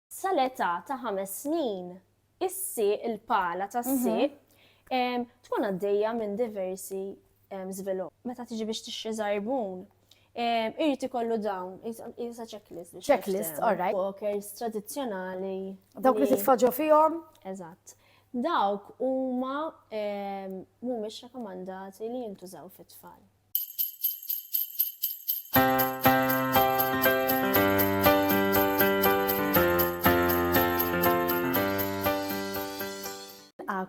sal-età ta' ħames snin, issi il-pala ta' mhm. siq tkun għaddejja minn diversi żvilupp. Meta tiġi biex tixxi żarbun, Irrit ikollu dawn, jisa checklist. Checklist, all right. Walkers tradizjonali. Dawk li titfaġġu fihom? Eżatt. Dawk huma mhumiex rekomandati li jintużaw fit-tfal.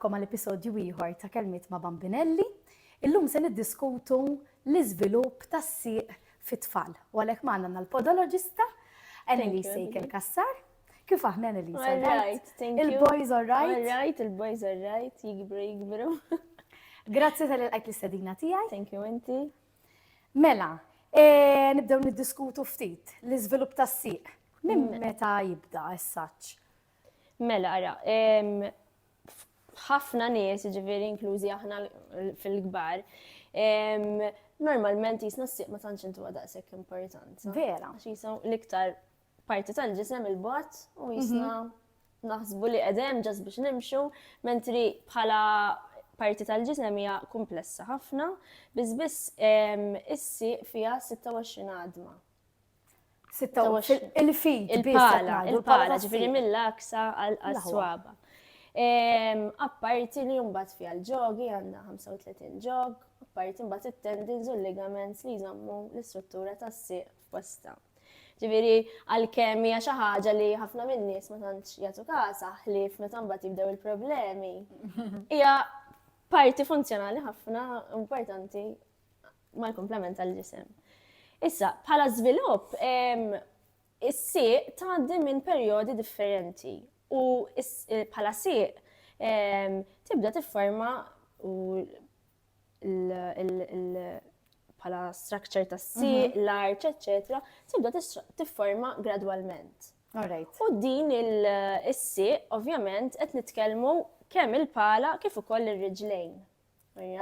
Nilqakom għal episodju ieħor ta' Kelmiet ma' Bambinelli. Illum se niddiskutu l-iżvilupp tas-sieq fit-tfal. U għalhekk magħna l-podologista Annelise Sejkel Kassar. Kif aħna Elisa? All right, thank you. Il-boys all right? All right, il-boys all right, jikbru, jikbru. Grazzi tal-għajt l-istadina tijaj. Thank you, inti. Mela, e, nibdew niddiskutu ftit l-izvilup tas siq Minn mm. meta jibda s-saċ? Mela, ara, ħafna nies, ġiviri inklużi aħna fil-gbar, normalment jisna s-siq ma tantx intu għadaqsek importanza. Vera. Għax jisaw l-iktar parti tal-ġisem il-bot u mhm. jisna naħsbu li qegħdem ġas biex nimxu, mentri bħala parti tal-ġisem hija komplessa ħafna, biss biss issi fija 26 għadma. 26 il-fit, il-pala, il-pala, ġifiri mill-aksa għal-swaba. Apparti li jumbat fija l-ġogi għandha 35 ġog, apparti mbagħad it-tendins u l-ligaments li jżammu l-istruttura tas-sieq Bosta. Ġifieri għalkemm hija xi ħaġa li ħafna min-nies ma tantx jagħtu kasa ħlief meta mbagħad jibdew il-problemi. Hija parti funzjonali ħafna importanti mal-komplement tal-ġisem. Issa, bħala żvilupp, is-sieq tgħaddi minn perjodi differenti u eh, bħala sieq tibda tifforma u bħala structure ta' si, mhm. l-art, etc. Tibda tifforma gradwalment. U din il-si, ovvjament, qed nitkellmu kemm il-pala kif ukoll ir-riġlejn.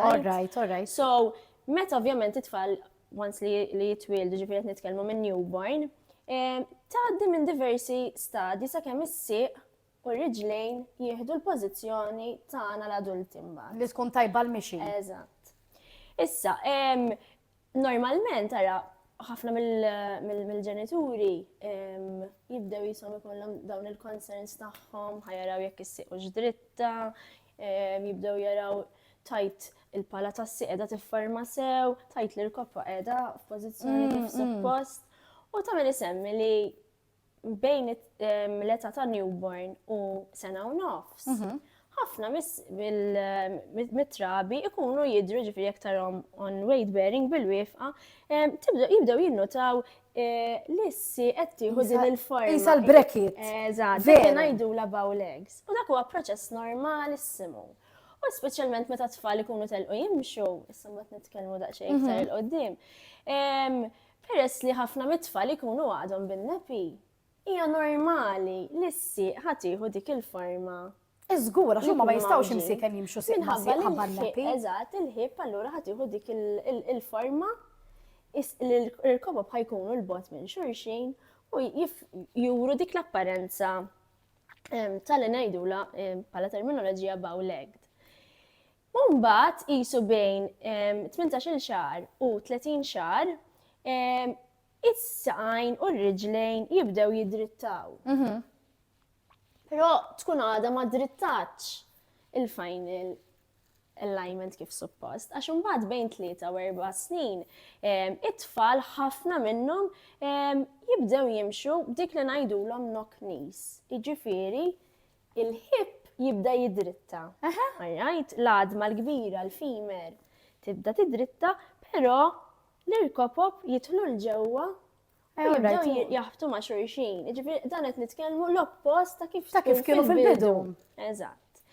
All right, all right. So, meta ovvjament it-tfal once li jitwildu ġifieri qed nitkellmu minn newborn, eh, tgħaddi minn diversi stadji sakemm is-sieq U r-riġlejn jieħdu l-pożizzjoni tagħna l-adulti mbagħad. Li tkun tajba l-mixi. Eżatt. Issa, normalment ara ħafna mill-ġenituri jibdew jisom ikollhom dawn il-concerns tagħhom, ħajaraw jekk issiqux dritta, jibdew jaraw tajt il-pala tassi qiegħda tifforma sew, tajt li l-koppa qiegħda f'pożizzjoni kif mm, mm. suppost. U tagħmel isemmi li bejn l-età ta' newborn u sena u nofs, mhm. ħafna mit-trabi ikunu jidru ġifiri aktarom on weight bearing bil-wifqa, jibdew jinnotaw eh, l-issi qed tieħu din il-forma. Isa l-brekit. Eżatt, dik ngħidu la bow legs. U dak huwa proċess normalissimu. U speċjalment meta tfal ikunu telqu jimxu, issa mbagħad nitkellmu daqsxejn iktar mhm. il-qoddim. Peress li ħafna mit-tfal ikunu għadhom bin-nepi, hija normali li s-sieq ħa tieħu dik il-forma. Żgur, għax huma ma jistgħux imsiken jimxu sieq ma' sieq ħabba n-nepi. Eżatt, il-ħieb allura ħa tieħu dik il-forma li l-irkobob ħa jkunu l-bogħod minn xulxin u juru dik l-apparenza tal-li ngħidula bħala terminoloġija bow-legged. U mbagħad qisu bejn 18-il xahar u 30 xahar is-saqajn u r-riġlejn jibdew jidrittaw. Mhm. Però tkun għada ma drittatx il-final alignment kif suppost, għax imbagħad bejn tlieta u erba' snin it-tfal ħafna minnhom jibdew jimxu dik li ngħidulhom knock knees. Jiġifieri Il-ħipp jibda jidritta. Għarrajt, l-għadma l-kbira, l-femur, tibda tidritta, però l-irkopop jidħlu l-ġewwa u jibdew jaħbtu ma' xurxin. Ġifieri dan qed nitkellmu l-oppost ta' kif ta' kif kienu fil-bidu. Eżatt.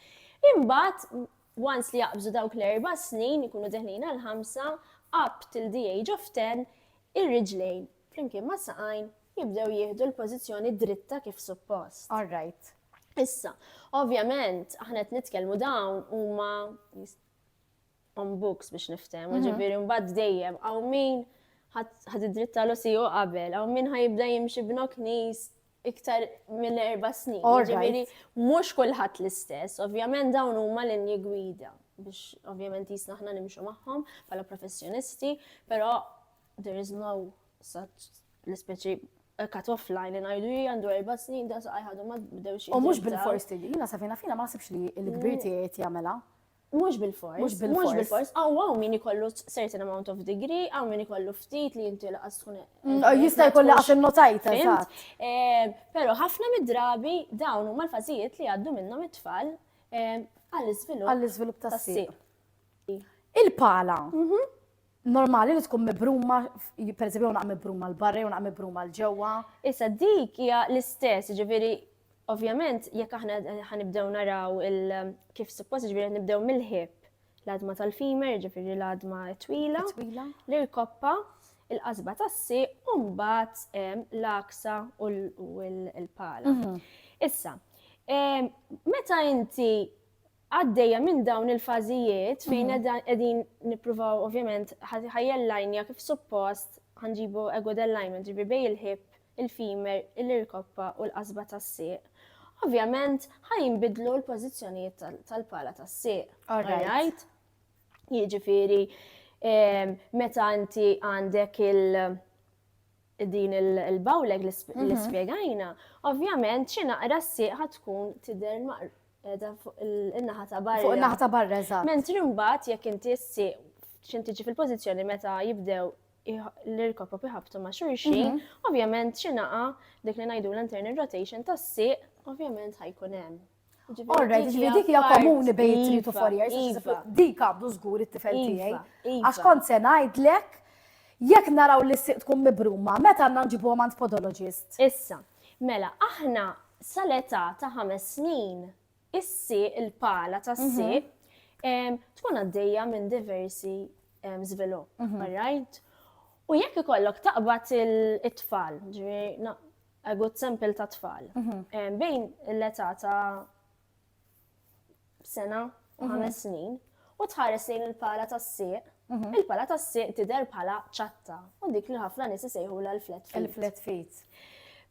Imbagħad once li jaqbżu dawk l-erba' snin, ikunu deħlin għal ħamsa, up till the age of ten, ir-riġlejn flimkien mas-saqajn, jibdew jieħdu l-pożizzjoni dritta kif suppost. All right. Issa, ovvjament, aħna qed nitkellmu dawn huma on books biex niftem, mhm. ġifiri mbagħad dejjem għaw min ħad id-dritta l u qabel, għaw min ħajibda jimxi b'nok nis iktar minn erba snin. Ġifiri, mux kullħat l-istess, ovvjament dawn huma l-inni gwida biex ovvjament jisna ħna nimxu maħħom pala professjonisti, pero There is no such l-ispeċi cut off line li ngħidu hija għandu erba' snin da saqaj ħadu ma bdewx. U mhux bil-fors tiġi, jiena safina fina ma nasibx li l-kbir mm. tiegħi qed jagħmilha. Mhux bil-fors. Mhux bil-fors. Mhux bil-fors. Aw hawn min ikollu certain amount of degree, aw min ikollu ftit li inti laqas tkun. Mm, jista' jkollu għax innotajt eżatt. Eh, però ħafna mid-drabi dawn huma l-fażijiet li għaddu minnhom it-tfal eh, għall-iżvilupp. Għall-iżvilupp tas-sir. Il-pala. Mhm. normali li tkun mibruma, per eżempju, unaq mibruma l-barra, unaq mibruma l-ġewwa. Issa dik hija l-istess, ġifieri ovvjament jekk aħna ħanibdew naraw kif suppost ġifieri nibdew mill-ħib l-adma tal-fimer, ġifieri l-adma twila, l-irkoppa, il-qasba tassi, u mbagħad l-aksa u l-pala. Mhm. Issa, meta inti għaddejja minn dawn il-fażijiet fejn qegħdin nippruvaw ovvjament ħajjel lajnja kif suppost ħanġibu good alignment ġibi bej il-ħib, il-fimer, il-irkoppa u l-qasba tas-sieq. Ovvjament ħajinbidlu l-pożizzjonijiet tal-pala tas-sieq. All right. Jiġifieri meta inti għandek il- din il-bawleg li spiegajna, ovvjament xi naqra s-sieq tkun tidher edha fuq il-naħa ta' barra. Fuq il-naħa ta' barra, eżatt. Mentri mbagħad jekk inti s-sieq x'in tiġi fil-pożizzjoni meta jibdew l-irkopop iħabtu ma' xulxin, mhm. ovvjament xi naqa dik li ngħidu l-internal rotation tas-sieq, ovvjament ħajkun hemm. Alright, ġifieri dik hija komuni bejn three to four years. Iva. Dik għabdu żgur it-tifel iva, tiegħi. Iva. Għax kont se ngħidlek jekk naraw li siq tkun mibruma, meta għandna nġibu għand podologist. Issa, mela, aħna sal-età ta' ħames snin, issi il-pala ta' mhm. siq tkun għaddejja minn diversi żvilupp, mhm. right? U jekk ikollok taqbad it-tfal, ġifieri a good sample ta' tfal. Bejn l-età ta' sena u ħames snin, u tħares lejn il-pala tas-sieq, il-pala tas-sieq tidher bħala ċatta u dik li ħafna nies isejħu l-flat feet. Il-flat feet.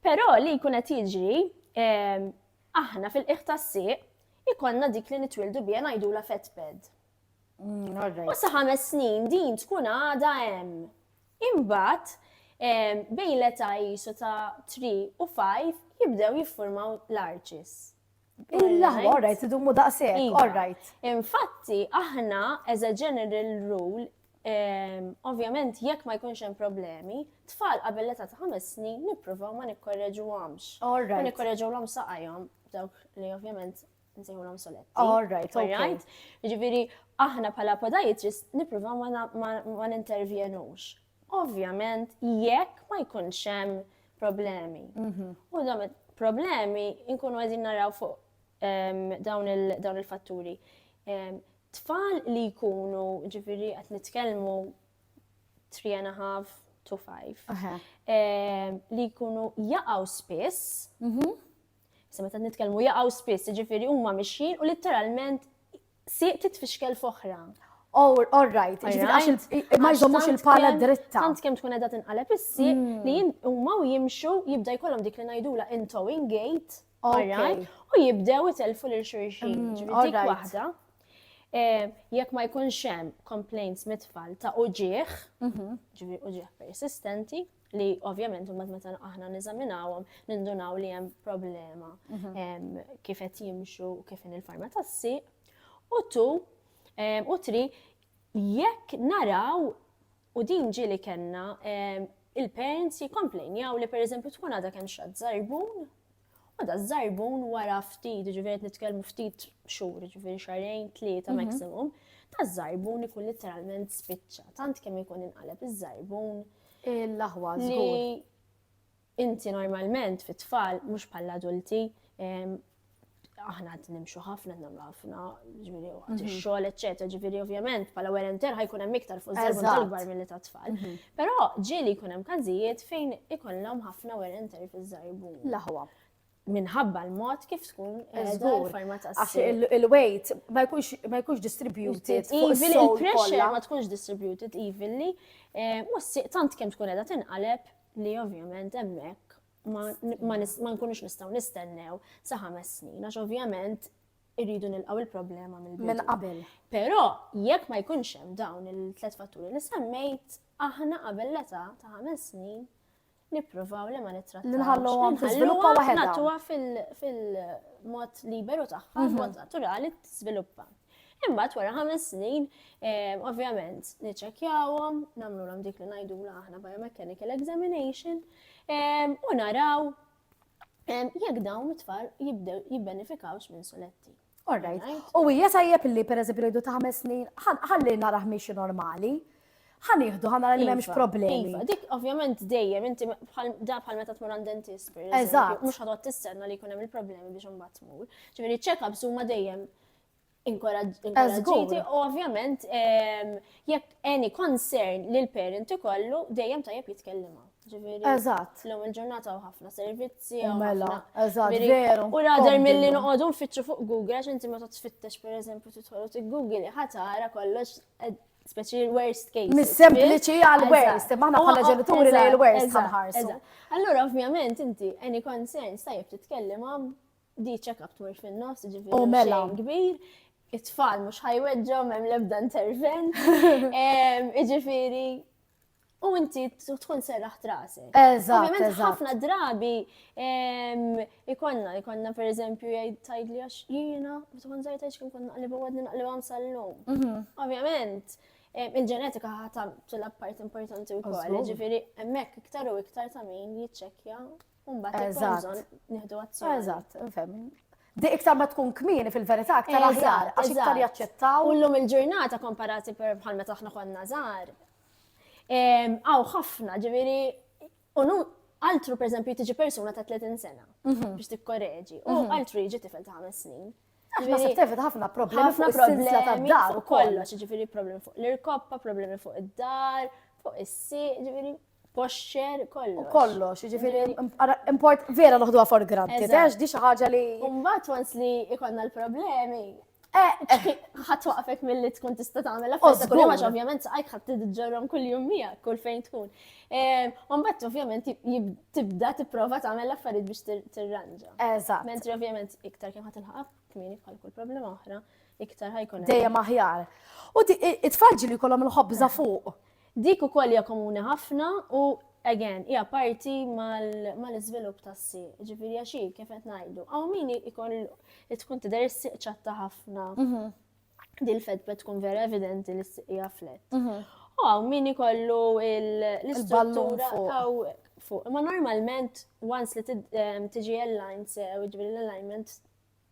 Però li jkun qed jiġri aħna fil-qiegħ tas-sieq ikonna dik li nitwildu biha ngħidula fat pad. Mm, u sa ħames snin din tkun għada hemm. Imbagħad bejn l-età jisu ta' 3 u 5 jibdew jiffurmaw l-arċis. Illa, all right, idumu daqsek, iva. all right. Infatti, aħna, as a general rule, ovvjament jekk ma jkunx hemm problemi, tfal qabel l-età ta' ħames snin nippruvaw ma nikkorreġu għamx. All right. Ma nikkorreġu l-għam saqajhom, dawk li ovvjament nsejħulhom soletti. All right, all right. Ġifieri aħna bħala podiatrist nippruvaw ma nintervjenux. Ovvjament jekk ma jkunx hemm problemi. Mhm. U dawn problemi nkunu qegħdin naraw fuq ehm, dawn il-fatturi. Ehm, tfal li jkunu ġifieri qed nitkellmu 3 and a half to 5 ehm, li jkunu jaqgħu spiss mhm. Issa meta nitkellmu jaqgħu spiss, jiġifieri huma mixjin u litteralment sieq titfixkel f'oħra. Oh, all right, ġifiri ma jżommux il-pala dritta. Tant kem tkun edha tinqaleb issi hmm. li huma u jimxu jibda jkollhom dik li ngħidula in towing gate, u jibdew itelfu lil xulxin, hmm, ġifiri dik waħda. Eh, jekk ma jkunx hemm complaints mit-tfal ta' uġieħ, mhm. ġifieri uġieħ persistenti, li ovvjament mbagħad meta aħna neżaminawhom nindunaw li hemm problema mhm. kif qed jimxu u kif in il-farma tassi u tu u tri jekk naraw u din ġili kellna il-parents jikkomplejnjaw li pereżempju tkun għadha kemm xatt żarbun U da żarbun wara ftit, ġifieri qed nitkellmu ftit xhur, ġifieri xarejn, tlieta mhm. maximum, ta' żarbun ikun literalment spiċċa. Tant kemm ikun inqaleb iż-żarbun. Il-laħwa li inti normalment fit-tfal mhux bħal adulti aħna għad nimxu ħafna, namlu ħafna, ġviri, għad mhm. xol, eccetera, ġviri, ovvjament, pala wear and tear ħajkun hemm iktar fuq żarbun tal-gbar mill-li ta' tfal. Mhm. Però ġieli jkun hemm każijiet fejn ikollhom ħafna wear and tear fiż-żarbun. L-aħwa. Minħabba l-mod kif tkun il-forma ta' Għax il-weight ma jkunx distributed. Even il-pressure ma tkunx distributed evenly, eh, mussiq tant kemm tkun qiegħda tinqaleb li ovvjament hemmhekk ma nkunux nistgħu nistennew sa ħames snin, għax ovvjament irridu nilqgħu il-problema mill-bidu. Minn qabel. Però jekk ma jkunx hemm dawn il-tliet fatturi li semmejt, aħna qabel l-età ta' ħames snin nippruvaw li ma nittrattaw. Nħallu għom tiżviluppa waħedha. Natuwa fil-mod liberu tagħha, mhm. mod naturali tiżviluppa. Imbagħad wara ħames snin, eh, ovvjament, niċċekkjawhom, nagħmlu dik li ngħidu aħna biomechanical examination, eh, u naraw jekk dawn it-tfal jibdew jibbenefikawx minn suletti. All right. U hija tajjeb li per eżempju rridu ta' ħames snin, ħalli naraħ miex normali ħanieħdu ħana li memx iva, problemi. Iva, dik ovvjament dejjem inti da bħal meta tmur għand dentist. Eżatt. Mhux ħadot tistenna li jkun hemm il-problemi biex imbagħad tmur. Ġifieri check-ups huma dejjem inkoraġġiti u ovvjament ehm, jekk any concern li l-parent ikollu dejjem tajjeb jitkellima. Eżatt. L-lum il-ġurnata u ħafna servizzi. U mela, eżatt, veru. U rader mill-li noqogħdu nfittxu fuq Google, għax inti meta tfittex per eżempju titħolu t Google ħatara kollox eh, speċi l-worst case. Mis-sempliċi għal-worst, maħna bħala ġenituri li l-worst ħanħarsu. Allura, ovvjament, inti, any concerns, tajjeb titkellem għam Di check-up tmur fin-nofs, ġifieri. U mela. Kbir, it-tfal mhux ħajweġġhom hemm l-ebda intervent. Ġifieri, u inti tkun serraħ trase. Eżatt. Ovvijament ħafna drabi ikonna, ikonna per eżempju jgħid tajd li għax jiena, u tkun zaħi tajd xkun konna għalli għadni naqli għam sal-lum. Mhm. Ovvijament, il-ġenetika ħata ċella part importanti u koll, ġifiri, emmek iktar u iktar ta' min jitċekja Umbat, eżatt. Nihdu azzjoni. Eżatt, nfem. Di iktar ma tkun kmini fil-verità aktar aħjar, għax iktar jaċċettaw. Ullum il-ġurnata komparati per bħal meta aħna konna żgħar. Aw ħafna, ġifieri, unu altru per eżempju tiġi persuna ta' 30 sena mhm. biex tikkoreġi, u mhm. altru jiġi tifel ta' 5 snin. Aħna se tefet ħafna problemi fuq is-silsla tad-dar u kollox, ġifieri problemi fuq l-irkoppa, problemi fuq id-dar, fuq is-si, ġifieri posture, kollox. U kollox, ġifiri, import, vera noħduha for granted, għax di ħaġa li. Umbat once li ikonna l-problemi, eh, eh. ħat waqfek mill-li tkun tista tagħmel affarijiet kull għax ovvjament saqajk ħadd tiġġorhom kull jum miegħek kull fejn tkun. Eh, Umbat ovvjament tibda tipprova tagħmel affarijiet biex tirranġa. Eżatt. Mentri ovvjament iktar kemm ħadd ilħaq kmieni bħal kull problema oħra, iktar ħajkun. Dejjem aħjar. U it-tfalġi li kolom il-ħobża fuq. Dik ukoll hija komuni ħafna u again hija parti mal-iżvilupp tas-sieq. Ġifieri għax kif qed ngħidu, hawn min ikoll tkun tidher is-sieq ċatta ħafna. Mhm. Dil fed bet tkun vera evidenti li s-sieq hija flet. Mhm. U hawn min ikollu l-istruttura fuq. Ma normalment once li tiġi l-line sew, ġifieri l-alignment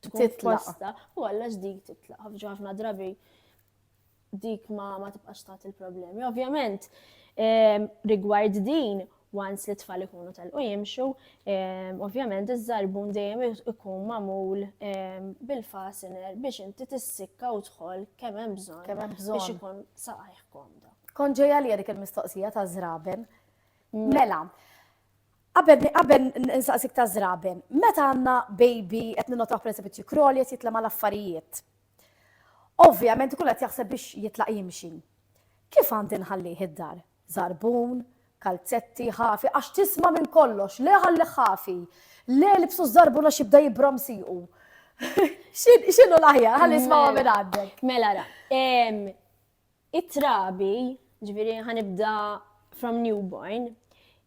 tkun titla. U għalla ġdid titla. Ħafna drabi dik ma, ma tibqax tagħti l-problemi. Ovvjament, ehm, rigward din, once li tfal ikunu tal-u jimxu, ehm, ovvjament iż-żarbun dejjem ikun mamul ehm, bil-fasiner biex inti tissikka u tħol kemm hemm bżonn. Kemm hemm bżonn. Biex ikun saqajh komda. Kon ġejja li dik il-mistoqsija ta' żraben. Mm. Mela, Qabel qabel nsaqsik ta' żraben, meta għandna baby qed ninnotaw pereżempju kroli qed jitlema l-affarijiet. Ovvjament ikun qed jaħseb biex jitlaq jimxi. Kif għandi nħallih id-dar? Żarbun, kalzetti, ħafi, għax tisma' minn kollox, le ħallih ħafi, le ilbsu ż-żarbun għax jibda jibrom siequ. X'inhu l-aħjar? Ħalli nismgħuha minn għandek. Mela ra, it-trabi, ġifieri ħa nibda from newborn,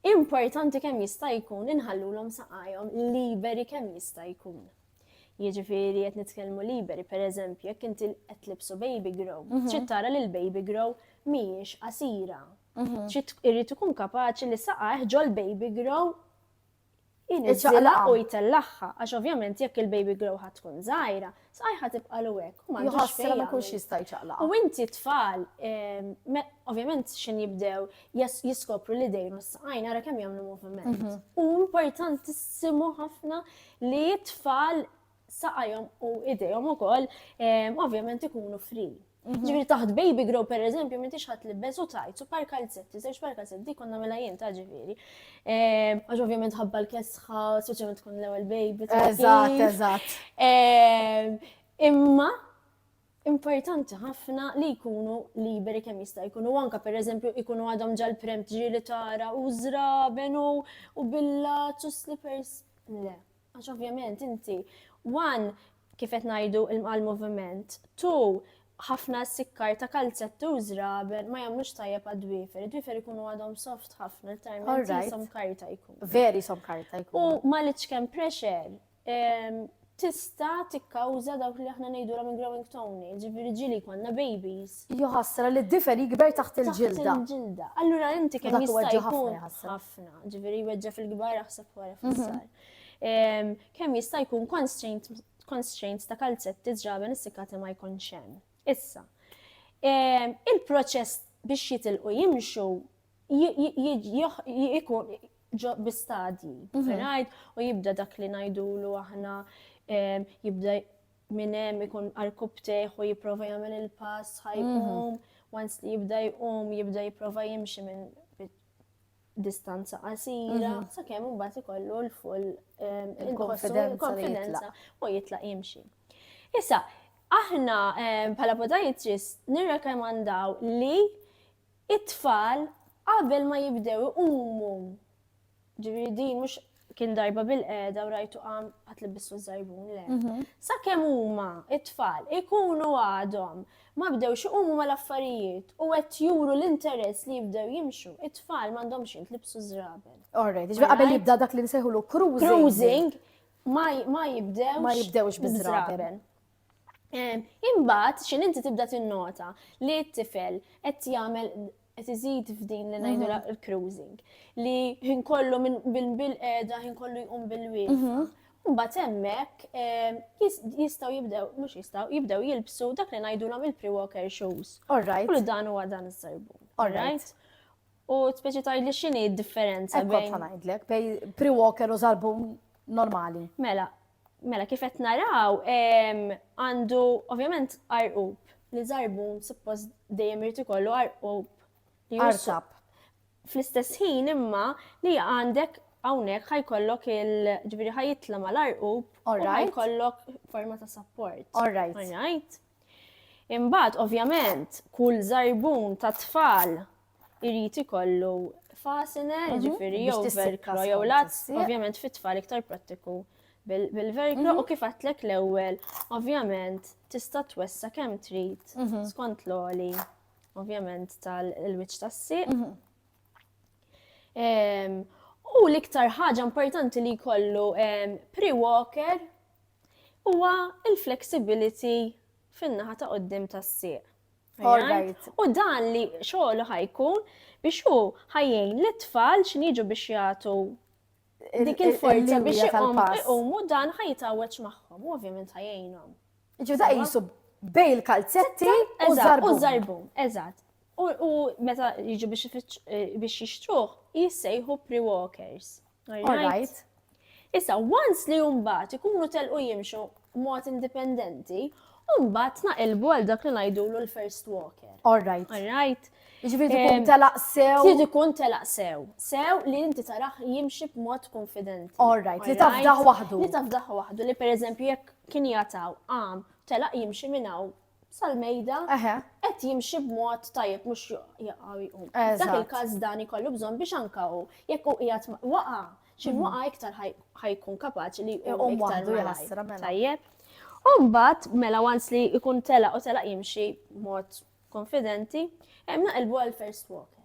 importanti kemm jista' jkun li nħallulhom saqajhom liberi kemm jista' jkun. Jiġifieri qed nitkellmu liberi, pereżempju, jekk inti qed tlibsu baby grow, mhm. trid tara li l-baby grow mhijiex qasira. Mhm. Trid irid ikun kapaċi li saqajh ġol baby grow Iċaqla u jtellagħha, għax ovvjament jekk il-baby grow ħadd tkun żgħira, sqajħa tibqa' l hekk u m'għandux fejn. Ma jkunx jista' jċaqla. U inti tfal, ehm, ovvjament x'in jibdew jiskopru li dejru s-saqajn ara kemm jagħmlu moviment. Mhm. U importantissimu ħafna li t-tfal saqajhom u idejhom ukoll ovvjament ikunu free. Mhm. Ġifieri taħt baby grow per eżempju m'intix ħadd libbes u tajt su par kalzetti, żewġ par kalzetti dik konna mela jien ta' ġifieri. Għax ovvjament ħabba l-kesħa, speċjalment tkun l-ewwel baby. Eżatt, eżatt. Imma importanti ħafna li jkunu liberi kemm jista' jkunu anka pereżempju jkunu għadhom ġal prem ġieli tara u żraben u billazz u slippers. Le, Għax ovvjament inti, one, kif qed ngħidu l-moviment, two, ħafna sikkar ta' kalzetti u żraben ma jagħmlux tajjeb għad-dwifer. Id-dwifer ikunu għadhom soft ħafna, l-tajment jisom karta jkun. Veri som karta jkun. U ma li ċkem pressure, tista tikkawża dawk li aħna ngħidulhom il-growing tone, ġifieri ġili konna babies. Jaħasra li d-difer jikber taħt il-ġilda. Taħt il-ġilda. Allura inti kemm jista' jkun ħafna, ġifieri jweġġa' fil-kbar aħseb wara mhm. fis-sar. Kemm jista' jkun constraints ta' kalzetti ġraben is-sikati ma jkunx hemm. Issa, il-proċess biex jitilqu jimxu jikun ġo bistadji, mhm. rajt, u jibda dak li najdulu aħna jibda minn hemm ikun arkub teħu jipprova jagħmel il-pass ħajqum, mhm. once li jibda jqum jibda jipprova jimxi minn distanza qasira, mhm. sakemm imbagħad ikollu l-full ehm, il-konfidenza u jitlaq jimxi. Issa, aħna ehm, bħala podajtris nirrekomandaw li It-tfal qabel ma jibdew iqumu, ġifieri din mhux kien darba bil-qegħda u rajtu qam ħadd libbislu ż-żarbun le. Mhm. Sakemm huma it-tfal ikunu għadhom ma bdewx iqumu mal-affarijiet u qed juru l-interess li jibdew jimxu, it-tfal m'għandhomx jintlibsu żrabel. Alright, ġifieri qabel jibda dak li nsejħulu cruising. Cruising ma jibdew. Ma jibdewx biż-żrabel. Imbagħad xi inti tibda tinnota li t-tifel qed jagħmel qed iżid f'din li ngħidu mhm. l-cruising li ħin kollu minn bil-qeda ħin kollu jqum bil-wieqfa. Mhm. Mbagħad hemmhekk ehm, jistgħu jibdew mhux jistgħu jibdew jilbsu dak li ngħidulhom il-pre-walker shoes. Alright. U dan huwa dan is-sarbun. Alright. U speċi tajli x'inhi d-differenza bejn. Ekk ngħidlek bej pre-walker u sarbun normali. Mela, Mela kif qed naraw għandu ovvjament arqub li żarbun suppost dejjem irid ikollu arqub li jursab. Fl-istess ħin imma li għandek hawnhekk ħajkollok il-ġifieri ħajitla mal-arqub u ħajkollok forma ta' support. All right. Imbagħad ovvjament kull żarbun ta' tfal irid ikollu fastener, mhm. ġifiri jew velcro jew lazz, ovvjament fit-tfal iktar prattiku bil-velcro mhm. u kif għatlek l-ewwel, ovvjament tista' twessa kemm trid mhm. skont l-oli, ovvjament tal-wiċċ tas-sieq. U l-iktar ħaġa importanti li jkollu pre-walker huwa il-flexibility fin-naħa ta' qoddim tas-sieq. U dan li xogħlu ħajkun biex hu ħajjin li tfal x'niġu biex jagħtu dik il-forza biex iqumu dan ħajtawweġ magħhom, u ovvjament ħajjinhom. Ġu da jisu bej il-kalzetti u zarbu. Eżatt. U meta jiġu biex eh, jixtruħ, jissejħu pre-walkers. All right. Issa, once li jumbat ikunu telqu jimxu mod indipendenti, umbat naqilbu għal dak li najdulu l-first walker. All right. All right. Ġifiri tkun telaq sew. Trid ikun telaq sew. Sew li inti taraħ jimxi b'mod konfidenti. All right, li tafdaħ waħdu. Li tafdaħ waħdu, li per eżempju jekk kien jataw għam telaq jimxi minnaw sal-mejda qed jimxi b'mod tajjeb mhux jaqgħu jqum. Dak il-każ dan ikollu bżonn biex anka hu jekk hu qiegħed waqa' xi mhm. waqa' iktar ħajkun kapaċi li jqum iktar mela. tajjeb. U mbagħad mela once li jkun tela u tela jimxi b'mod konfidenti, hemm naqilbu għal first walker.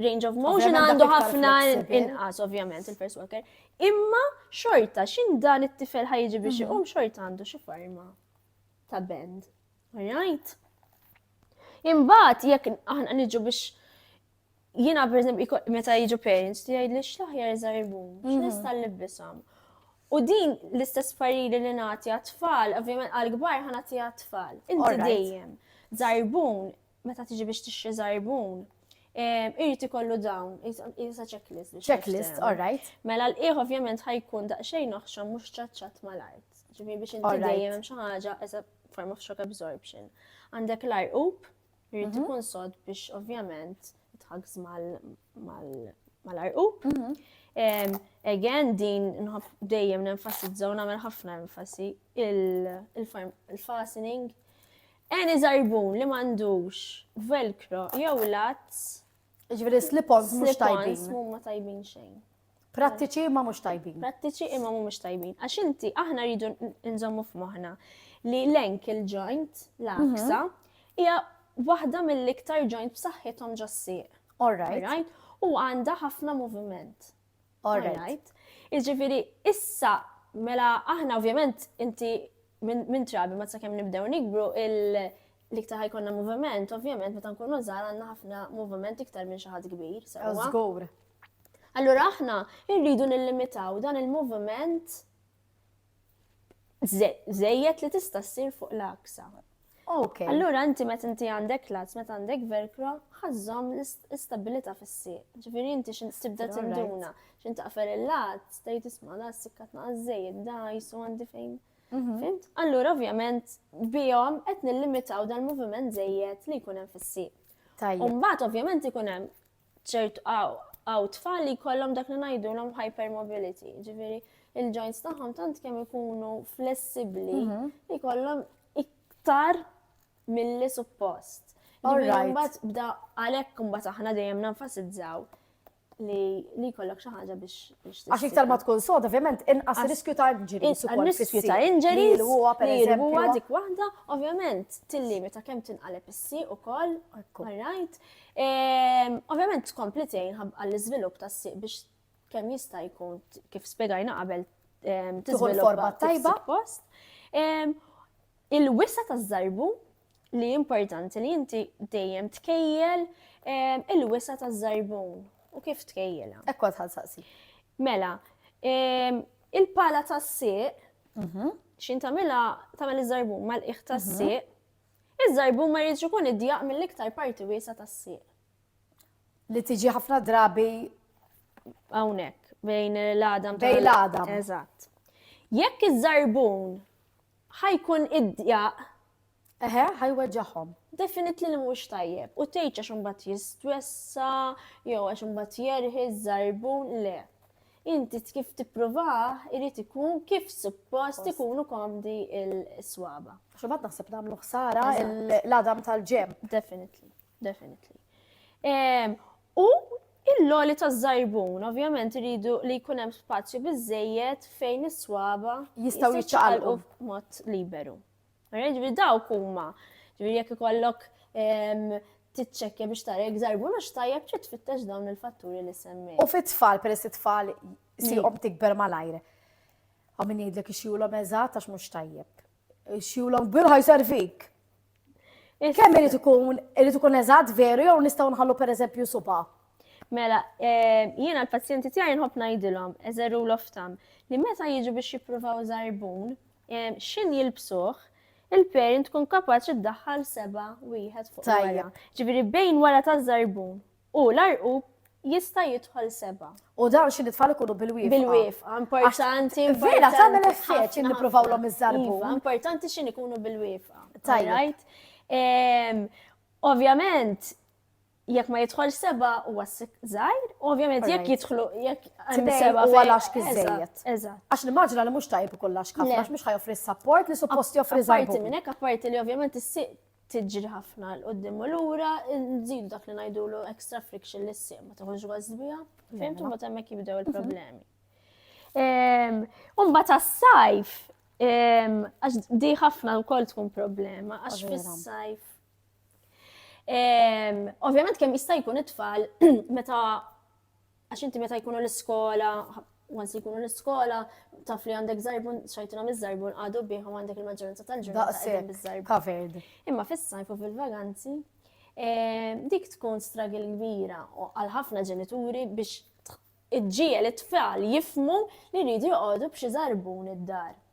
range of motion għandu ħafna inqas ovvjament il-first walker. Imma xorta xin dan it-tifel ħajġi biex mhm. iqum xorta għandu xi forma ta' bend. Alright? Imbagħad jekk aħna niġu biex jiena pereżempju meta jiġu parents ti jgħidli x'laħjar żarbun, mhm. x'nista' nlibbishom. U din l-istess pariri li nagħti għat-tfal, ovvjament għal-kbar ħana tagħti għat-tfal. Inti dejjem żarbun meta tiġi biex tixtri żarbun, irid ikollu dawn, jisa checklist biex. Checklist, all right. Mela l-qiegħ ovvjament ħajkun daqsxejn oħxon mhux ċaċċat mal-art. Ġifieri biex inti dejjem hemm xi ħaġa as a form of shock absorption. Għandek l-arqub, irid mhm. ikun sod biex ovvjament tħagż mal-arqub. Mhm. Again, din nħob dejjem nenfasizzaw nagħmel ħafna enfasi il-fastening Any żarbun li m'għandux velcro jew latz. Jiġifieri slip-ons mhux tajbin. Slip-ons mhumma tajbin xejn. Prattiċi imma mhux tajbin. Prattiċi imma mhumiex tajbin. Għax inti aħna rridu nżommu f'moħħna li l-ankle joint, l-aksa, mhm. hija waħda mill-iktar joint b'saħħithom ġossieq. All right. U għandha ħafna moviment. All right. Iġifiri, issa, mela aħna ovvjament inti minn trabi ma sakemm nibdew nikbru l-iktar ħajkonna moviment, ovvjament meta nkunu żgħar għandna ħafna moviment iktar minn xi ħadd kbir. Żgur. Allura aħna rridu nillimitaw dan il-moviment Zejjed li tista' ssir fuq l-aksa. Ok. Allura inti meta inti għandek lats, meta għandek velcro, ħazzom l-istabilita fis-sieq. Ġifieri inti xi tibda tinduna, xi taqfer il-lat, tgħid isma' da s-sikka tnaqqas żejjed, da jisu għandi fejn. Mhm. Fimt? Allura ovvjament bihom qed nillimitaw dal-moviment żejjed li jkun hemm fis-sieq. Tajjeb. Umbagħad ovvjament ikun hemm ċertu għaw tfal li jkollhom dak li ngħidulhom hypermobility, ġifieri il-joints tagħhom tant kemm ikunu flessibbli mhm. li jkollhom iktar milli suppost. Alright. Bda għalhekk imbagħad aħna dejjem nenfasizzaw li li kollok xi ħaġa biex biex. Għax iktar ma tkun sod, ovvjament, inqas riskju ta' injuries ukoll. Riskju ta' injuries li huwa per eżempju. dik waħda, ovvjament, tillimita kemm tinqaleb is-sieq ukoll, all right. Ovvjament tkompli tgħin għall-iżvilupp tas-sieq biex kemm jista' jkun kif spjegajna qabel tiżvilupp forma tajba post. Il-wisa ta' żarbu li importanti li inti dejjem tkejjel il-wisa ta' żarbu u kif tkejjela. Ekkwa tħal saqsi. Mela, il-pala ta' siq, mhm. xin tamela tamel iż-żarbu mal-iħ ta' siq, mhm. Iż-żarbun ma jridx ikun idjaq mill-iktar parti wiesgħa tas-sieq. Li tiġi ħafna drabi hawnhekk bejn l-għadam bejn l-għadam. Eżatt. Jekk iż-żarbun ħajkun idjaq Eħe, ħajweġġaħhom. Definitely li mhux tajjeb. U tgħid għax imbagħad jistwessa, jew għax imbagħad jerħi żarbun le. Inti kif tipprovah irid ikun kif suppost ikunu komdi il-swaba. Xubad naħseb nagħmlu ħsara l-adam tal-ġem. Definitely, definitely. Ehm, u il-loli ta' zarbun, ovvjament rridu li jkun hemm spazju biżejjed fejn is-swaba jistgħu jiċċaqalqu b'mod liberu. Mara ġifieri dawk huma. Ġifieri jekk ikollok ehm, titċekkja biex tara jekk żarbu mhux tajjeb trid tfittex dawn il-fatturi li semmi. U fit-tfal peress it-tfal siqhom tikber malajr. Għaw min jgħidlek ixjulhom eżatt għax mhux tajjeb. Ixjulhom kbir ħaj servik. Kemm irid ikun irid ikun eżatt veru jew nistgħu nħallu pereżempju suba. Mela, eh, jiena l-pazjenti tiegħi nħobb ngħidilhom, eżeru l-oftam, li meta jiġu biex jippruvaw żarbun, x'ħin jilbsuh, il-parent tkun kapaċi ddaħħal seba' wieħed fuq wara. Ġifieri bejn wara taż-żarbun u l-għarqub jista' jidħol seba'. U dawn xi tfal ikunu bil-wieqfa. Bil-wieqfa, importanti. Vera tagħmel effett xi nippruvawlhom iż-żarbun. Iva, importanti xi ikunu bil-wieqfa. Tajjeb. Ovvjament, jekk ma jidħol seba u għassik zaħir, ovvjament jekk jidħlu jekk għandu seba u għalax kizzejiet. Għax nimmaġina li mux tajb kollax ħafna, għax mux ħajoffri s-sapport li suppost joffri zaħir. Parti minnek, parti li ovvjament s-siq tiġri ħafna l-qoddim u l-ura, nżidu dak li najdu l extra friction li s-siq, ma taħħuġ għazbija, fimtu ma temmek jibdew il-problemi. Umba ta' sajf, għax di ħafna u kol tkun problema, għax fis-sajf Ehm, ovvjament kemm jista' jkun it-tfal meta għax inti meta jkunu l-iskola, once jkunu l-iskola, taf li għandek zarbun, xajtina miz zarbun għadu biħu għandek il-maġġoranza tal-ġurnata bizzarbun. Imma fis-sajf u fil-vaganzi, eh, dik tkun stragil kbira għal ħafna ġenituri biex iġġiel it-tfal jifmu li rridu joqogħdu b'xi zarbun id-dar.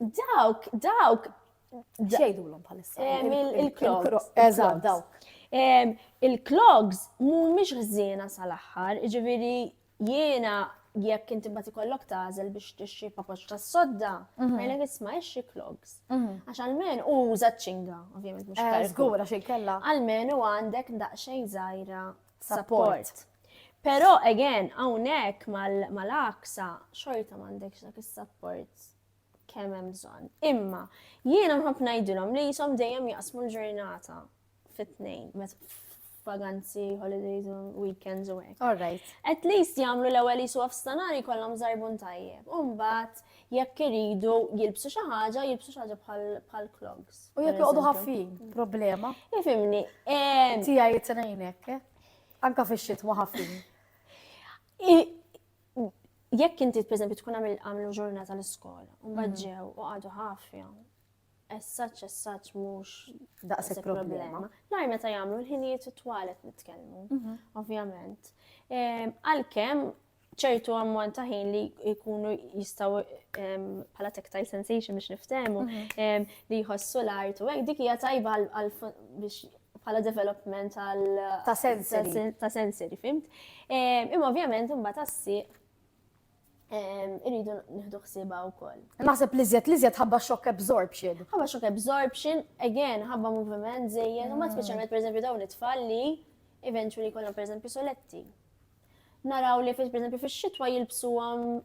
Dawk, dawk. Xejdulhom bħalissa. Il-clogs. Eżatt, dawk. Il-clogs mhumiex ħżiena sal-aħħar, ġifieri jiena jekk inti mbagħad ikollok tażel biex tixxi papoċ tas-sodda, mhm. ngħidlek isma' ixxi clogs. Mhm. Għax almen u uża ċinga, ovvjament mhux eh, żgura xi kellha. Almen u għandek daqsxejn żgħira support. Però again hawnhekk mal-aksa xorta m'għandekx dak is-support kemm hemm bżonn. Imma jiena nħobb ngħidilhom li jisom dejjem jaqsmu l-ġurnata fit-tnejn vaganzi, holidays, weekends u hekk. All right. At least jagħmlu l-ewwel jisu f'stanari kollhom żarbun tajjeb. U mbagħad jekk iridu jilbsu xi ħaġa, jilbsu xi ħaġa bħal clogs. U jekk joqogħdu ħaffin, problema. Ifimni. Tiegħi jitrejnek, eh? anka fix-xitwa ħaffin. Jekk inti pereżempju tkun għamil għamlu ġurnata l-iskola, u mbagħad mhm. ġew u għadu ħafja, essaċ essaċ mhux daqshekk problema. L-għar meta jagħmlu l-ħinijiet it-twalet nitkellmu, mhm. ovvjament. Ehm, għalkemm ċertu ammont ta' ħin li jkunu jistaw bħala tactile sensation biex niftemu mhm. li jħossu l-art u dik hija tajba biex bħala development għal ta' sensory. Ta' sensory, fimt. Imma ovvjament imbagħad tassi irridu nieħdu ħsiba wkoll. Naħseb li żjed li żjed ħabba shock absorption. Ħabba shock absorption, again, ħabba moviment żejjed, u ma speċjalment pereżempju dawn it-tfal li eventually kollhom pereżempju soletti. Naraw li pereżempju fix-xitwa jilbsuhom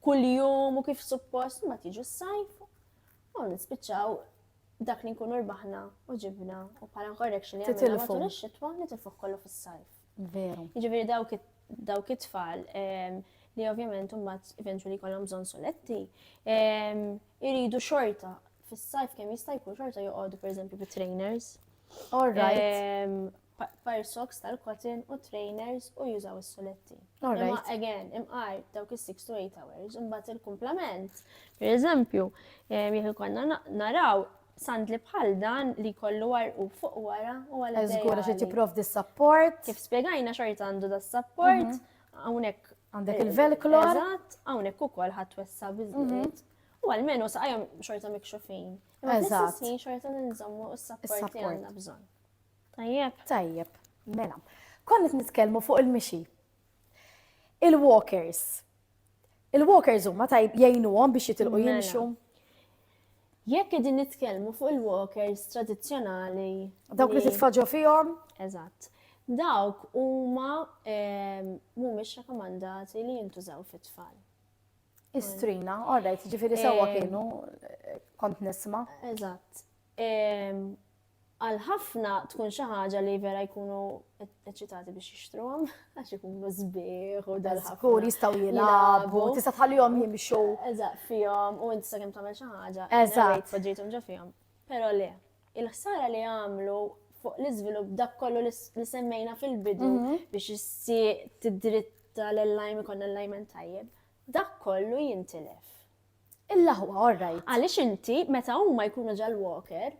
kuljum u kif suppost ma tiġu s-sajf u nispiċċaw dak li nkunu rbaħna u ġibna u bħala korrection li għamilna matul ix-xitwa nitilfuh kollu fis-sajf. Veru. Jiġifieri dawk dawk it-tfal li ovvjament mbagħad eventually jkollhom bżonn soletti, iridu xorta fis-sajf kemm jista' jkun xorta joqogħdu pereżempju bi trainers. All right. fire socks tal-cotton u trainers u jużaw is-suletti. Imma again, imqar dawk is-6 to 8 hours, imbagħad il-kumplament. Per eżempju, jekk konna naraw sandli bħal dan li kollu warqu fuq wara u għal Eżgura xi tipprov di support. Kif spiegajna xorta għandu da support, mhm. hawnhekk għandek il-velcro. Eżatt, hawnhekk ukoll ħadd wessa biżżejjed. Mhm. U għalmenu saqajhom xorta mikxufin. Imma fl-istess xorta ninżommu s-support li għandna bżonn. Tajjeb. Tajjeb, mela. Konna qed nitkellmu fuq il-mixi. Il-walkers. Il-walkers huma tajb jgħinuhom biex jitilqu Mela. jimxu. Jekk qegħdin nitkellmu fuq il-walkers tradizzjonali. Dawk li titfaġġu fihom. Eżatt. Dawk huma ehm, mhumiex rakkomandati li jintużaw fit-tfal. Istrina, all right, ġifieri sewwa Eh. kienu eh, kont nisma'. Eżatt. Ehm, Għal ħafna tkun xi ħaġa li vera jkunu eċċitati biex jixtruhom għax ikunu sbieħ u dal Żgur jistgħu jilagħbu, tista' tħallihom jimxu. Eżatt fihom u inti sakemm tagħmel xi ħaġa. Eżatt. Poġġejthom ġo fihom. Però le, il-ħsara li għamlu fuq l-iżvilupp dak kollu li semmejna fil-bidu mhm. biex issi tidritta l-lajm ikon l-lajmen tajjeb, dak kollu jintilef. Il-laħwa, orrajt. Għaliex inti meta huma jkunu ġall-walker,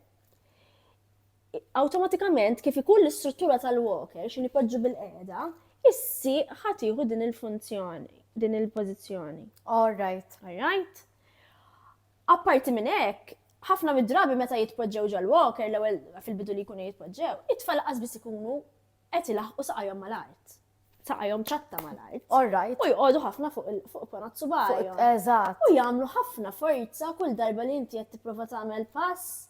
awtomatikament kif ikun l-istruttura tal-walker xi nipoġġu bil-qiegħda, is-sieq ħa tieħu din il-funzjoni, din il-pożizzjoni. Orrajt. Orrajt? Apparti minn hekk, ħafna mid-drabi meta jitpoġġew ġal-walker l-ewwel fil-bidu li jkunu jitpoġġew, it-tfal qas biss ikunu qed ilaħqu saqajhom mal-art. saqajhom ċatta mal-art. All right. U jqogħdu ħafna fuq il-ponat subajhom. Eżatt. U jagħmlu ħafna forza kull darba li inti qed tipprova tagħmel pass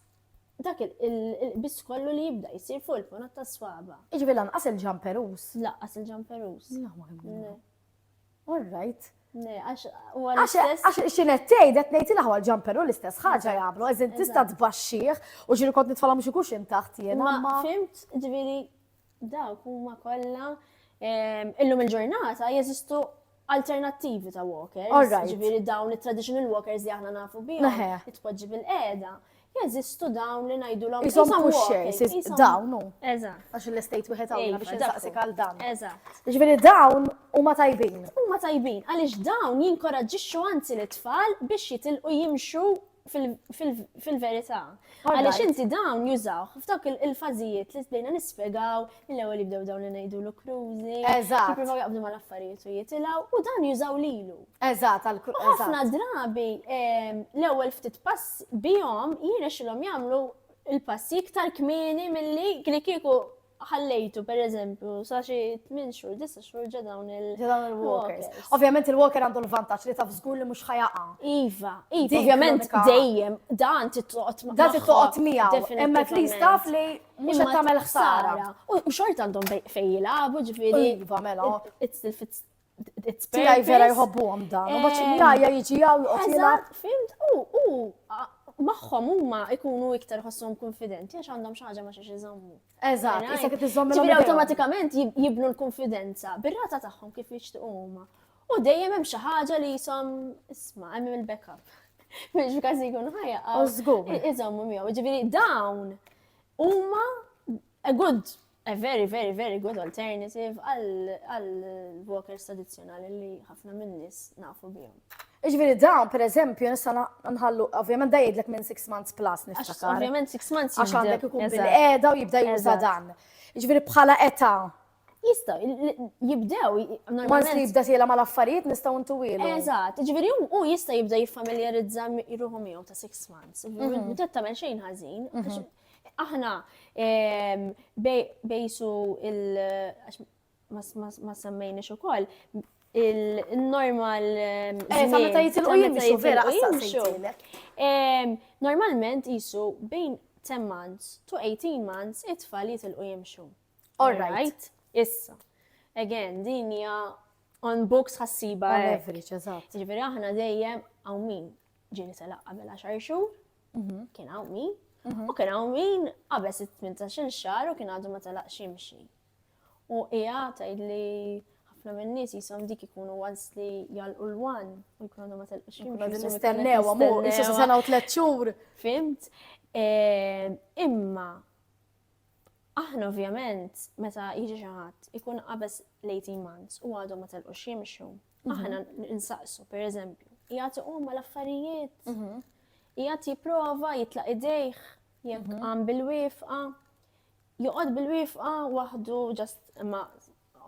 dak il-biss kollu li jibda jsir fuq il-ponat ta' swaba. Iġbi lanqas il-ġamperus. Lanqas il-ġamperus. La ma All right. Għax xinet tgħidet ngħid il-ħwa l-ġamperu l-istess ħaġa jagħmlu, eżin tista' tbaxxih u ġiri kont nitfalhom xi kuxin taħt jiena. Ma fimt ġifieri Dawk huma kollha illum il-ġurnata jeżistu alternattivi ta' walkers, ġifieri dawn it-traditional walkers li aħna nafu bihom, tpoġġi bil-qeda, jeżistu dawn li ngħidulhom isom walkers, dawn hu. Eżatt. Għax l-estate wieħed hawnna biex insaqsik għal dan. Eżatt. Ġifieri dawn huma tajbin. Huma tajbin għaliex dawn jinkoraġġixxu anzi lit-tfal biex jitilqu jimxu fil-verità. Għaliex inti dawn jużaw, f'dawk il-fażijiet li bdejna nispjegaw mill-ewwel jibdew dawn li ngħidu l krużi. Eżatt. Jippruvaw jaqbdu mal-affarijiet u jitilgħu u dan jużaw lilu. Eżatt, għal krużi. Ħafna drabi ehm, l-ewwel ftit pass bihom jirnexxilhom jagħmlu il-passi iktar kmieni milli kieku ħallejtu per eżempju sa xi tmien xhur, disa' xhur ġa dawn il- ġa dawn il-walkers. Ovvjament il-walker għandu l-vantaġġ li taf żgur li mhux ħajaqa. Iva, iva, ovvjament dejjem dan tittoqgħod ma' dan tittoqgħod miegħu. Imma li staf li mhux qed tagħmel ħsara. U xort għandhom fejn jilagħbu ġifieri. Iva, mela. It's the fits Tijaj vera jħobbu għom dan. U baċin eh, jajja jġi għaw jgħot jgħat. Fimt, u, u, maħħom huma ikunu iktar ħossom konfidenti għax għandhom xaġa ma xiex iżommu. Eżatt, issa kif iżommu. Ġifieri awtomatikament jibnu l-konfidenza bir-rata tagħhom kif jixtiequ huma. U dejjem hemm xi ħaġa li jisom isma' hemm il-backup. Mhux f'każ jkun ħajja. Iżommu miegħu. Ġifieri dawn huma a good A very, very, very good alternative għal-walkers tradizjonali li ħafna minnis nafu bihom. Iġviri dan, per eżempju, nista nħallu, ovvjament da jgħidlek minn 6 months plus niftakar. Ovvjament 6 months. Għax għandek ikun bil-qeda u jibda juża dan. Iġviri bħala eta. Jista, jibdew. Ma nsi jibda tiela ma l-affarijiet nistaw ntu ilu. Eżat, iġviri u jista jibda jiffamiljarizza jruħu miegħu ta' 6 months. Meta mhm. tagħmel xejn ħażin, mhm. Aħna bejsu il- ma semmejniex ukoll il-normal. Eh, sa meta jitilqu jimxu, vera, Normalment jisu bejn 10 months to 18 months it-tfal jitilqu jimxu. All right. Issa. Again, din hija on books ħassiba. On average, eżatt. Ġifieri aħna dejjem hawn min ġieli telaq qabel 10 xhur, mhm. kien hawn min, mhm. u kien hawn min qabel 18 xahar u kien għadu ma telaq ximxi. U hija tgħid li ħafna minn nies jisom dik ikunu once li jalqu l-wan u jkunu għadu ma telaq ximxi. Għadin nistennew, għamu, jissu sena u tlet xhur. Fimt? Eh, imma, aħna ovvjament, meta jiġi xaħat, ikun qabes l-18 months u għadu ma telqu ximxu. Aħna nsaqsu, per eżempju, jgħati umma l-affarijiet, mhm. jgħati jiprofa, jitlaq idejħ, jgħak mhm. għam bil-wifqa, joqod bil-wifqa wahdu, just ma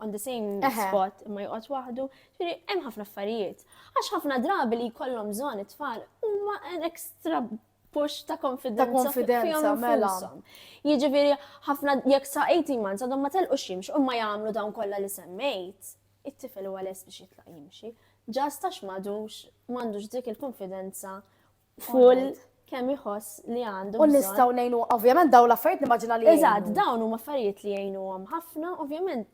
on the same spot, ma joqod wahdu, ġviri, hemm ħafna affarijiet. Għax ħafna drabi li kollom zon it-tfal, umma an extra push ta' konfidenza. Ta' konfidenza, mela. Jiġifieri ħafna jekk sa' 18 months għadhom ma telqu ximx u ma jagħmlu dawn kollha li semmejt. it-tifel huwa lest biex jitlaq jimxi, ġast għax m'għadux m'għandux dik il-kunfidenza full kemm iħoss li għandu. U nistgħu ngħinu, ovvjament dawn l-affarijiet nimmaġina li. Eżatt, dawn huma affarijiet li jgħinuhom ħafna, ovvjament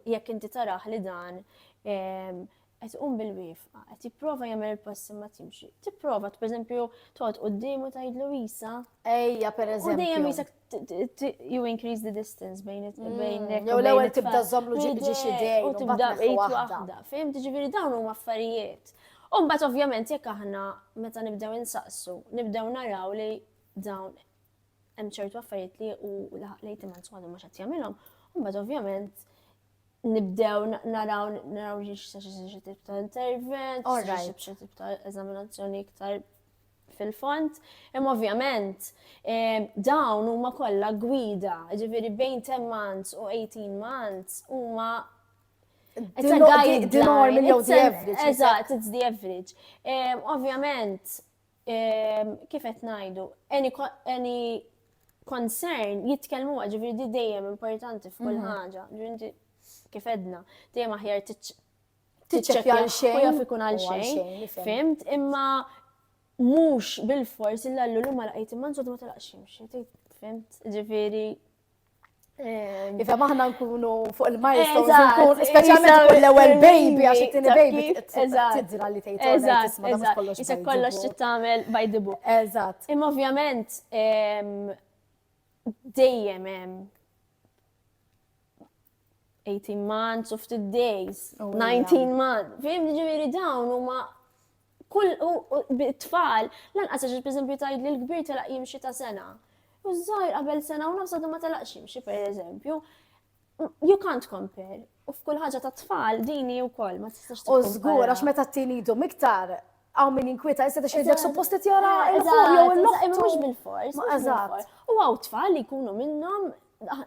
jekk inti taraħ li dan ehm, qed um bil-wifqa, qed jipprova jagħmel il-passi ma timxi. Tipprova pereżempju toqgħod quddiemu tgħidlu isa. Ejja pereżempju. U dejjem isek you increase the distance bejn it mm. bejn jew l-ewwel tibda żommlu ġiġi xi dej u tibda bejt waħda. Fim tiġifieri dawn huma affarijiet. U mbagħad ovvjament jekk aħna meta nibdew insaqsu, nibdew naraw li dawn hemm ċertu affarijiet li u lejt imman sħadu mhux qed jagħmilhom, mbagħad ovvjament nibdew naraw naraw xi xi tip ta' intervent, xi tip ta' eżaminazzjoni iktar fil-fond, imma ovvjament dawn huma kollha gwida, ġifieri bejn 10 months u 18 months huma It's a guideline. The norm, it's the average. Eżatt, it's the average. Ovvjament, kif qed ngħidu, any concern jitkellmu ġifieri di dejjem importanti f'kull mm-hmm. ħaġa. Kif edna, dejjem aħjar tiċċekkja għal xejn. U jaf ikun għal xejn. Fimt, imma mhux bil-fors illa l-lulu ma laqajt imma nżodu ma telaqx ximxi. Fimt, ġifieri ehm, Iva maħna nkunu fuq il-milestones, nkun speċjalment fuq l-ewwel baby għax it-tieni baby tidra li tgħid eżatt, eżatt, isek kollox trid tagħmel by the book. Eżatt. Imma ovvjament ehm, dejjem hemm 18 months u ftit days, 19 months. Fim ġifieri dawn huma kull tfal lanqas għax pereżempju tgħid li l-kbir telaq jimxi ta' sena. U żgħir qabel sena u nafsa ma telaqx jimxi pereżempju. You can't compare. U f'kull ħaġa ta' tfal dini wkoll ma tistax. U żgur għax meta t-tini jidhom iktar Għaw min jinkwieta, iżda ta' xejdek suppost li tjara il-ħur jew il-loħ. Imma mhux bil-fors. Eżatt. U għaw tfal li jkunu minnhom ah,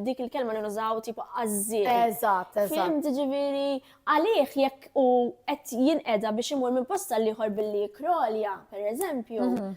dik il-kelma li nużaw tipo għazzi. Eżatt, eżatt. Fim ġiviri, għalih jekk u qed jinqeda biex imur minn posta liħor billi krolja, per eżempju, mhm.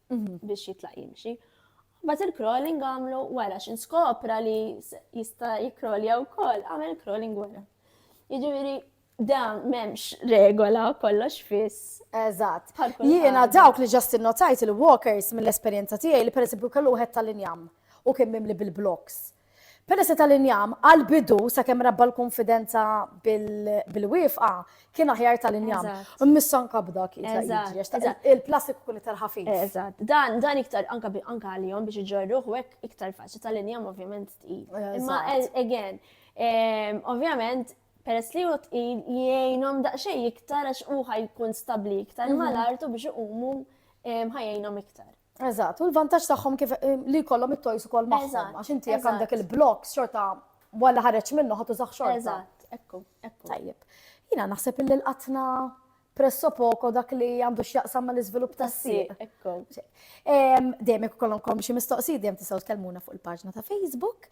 mhm. biex jitlaq jimxi. Bat il-crawling għamlu wara xin skopra li jista jikrolja u koll, għamel crawling wara. Iġviri, da memx regola kollox fiss. Eżat. Jiena dawk li ġast notajt il-walkers mill-esperienza tiegħi li pereżempju kellu wieħed tal-injam u kien mimli bil-bloks. Peress li tal-injam għall-bidu, sakemm rabba l-kunfidenza bil-wiefqa, kien aħjar tal-injam. Eżatt. Immissu anka b'dak jitla' jiġri. Eżatt, għax taqta' eżatt. il-plastik ikun iktar ħafif. Eżatt. Dan, dan iktar anka bi, anka għalihom biex iġorruh u hekk iktar faċli. Tal-injam ovvjament tqil. Eżatt. Imma a- again, ehm, ovvjament peress li hu tqil jgħinhom daqsxejn iktar għax hu ħa jkun stabbli iktar mal-art u biex iqumu ehm, ħa jgħinhom iktar. Eżatt, u l-vantaġġ tagħhom kif eh, li jkollhom it-toys ukoll magħhom, għax inti jekk għandek il-blocks xorta walla ħareġ minnu ħadd użaħ xorta. Eżatt, ekku, ekku. Tajjeb. Jiena naħseb illi l-qatna presso poco dak li għandu x'jaqsam mal iżvilupp tas-sieq. Ekku. Dejjem jekk ikollhom xi mistoqsijiet dejjem tistgħu tkellmuna fuq il-paġna ta' Facebook.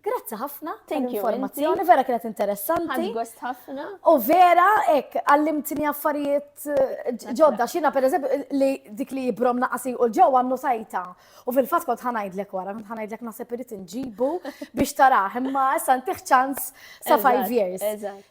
Grazzi ħafna tal-informazzjoni, vera kienet interessanti. Għad gost ħafna. U vera, ek, għallimtni affarijiet eh, ġodda, xina per eżempju li dik li jibrom naqasi u ġew għannu sajta. U fil-fat kont ħanajdlek wara, kont ħanajdlek nasib irrit nġibu biex taraħ, imma issa ntiħ ċans sa 5 years.